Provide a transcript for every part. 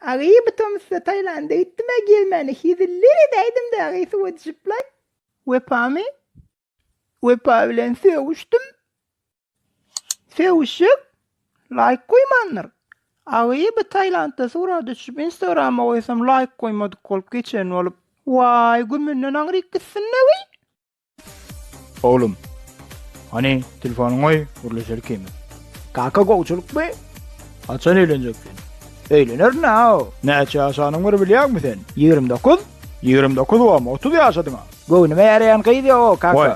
Agy bu tomusda Taýlanda gitdimä gelmäne heziller edäýdimdä agy suwa düşüplaý. Wepamy? Wepa bilen sögüşdim. Sögüşjek? Laýk goýmandyr. Agy bu Taýlandda suwra düşüp instagrama goýsam laýk goýmadyk bolup geçen bolup. Waý gümünden aňryk gitsin agy. Oglum. Hany, telefonyňy goý, gürleşelik hemi. Kaka gowçulykmy? Haçan öýlenjek sen? Öýlenerin a. Näçe ýaşanyň bir bilýäňmi sen? 29. 29 bom, 30 ýaşadyňa. Göwnüme ýaraýan gyz ýok o kaka. Goý.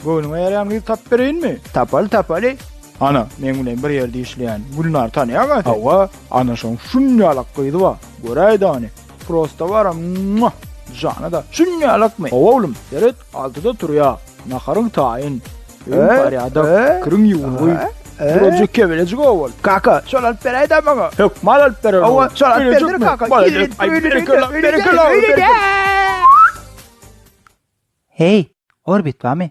Göwnüňe ýaraýan gyz tapyp bereýinmi? Tapaly tapaly. Ana, meň bilen bir ýerde işleýän Gülnar tanýaňa sen? Hawa, ana şoň şunýalak gyzy bar. Göräýdäni. Prosta bara mua! Jana-da, şunýalykmy? Hawa oglum, seret, altyda turýa. Naharyň taýyn. Öýüň parýada, kiriň ýuwungy. Duraja kebelejik owal. Kaka, şol alyp beräýdä maňa. Hökman alyp bererin. Hawa, şol alyp berdir kaka. Berekella, berekella, berekella. Heý, Orbit bamy?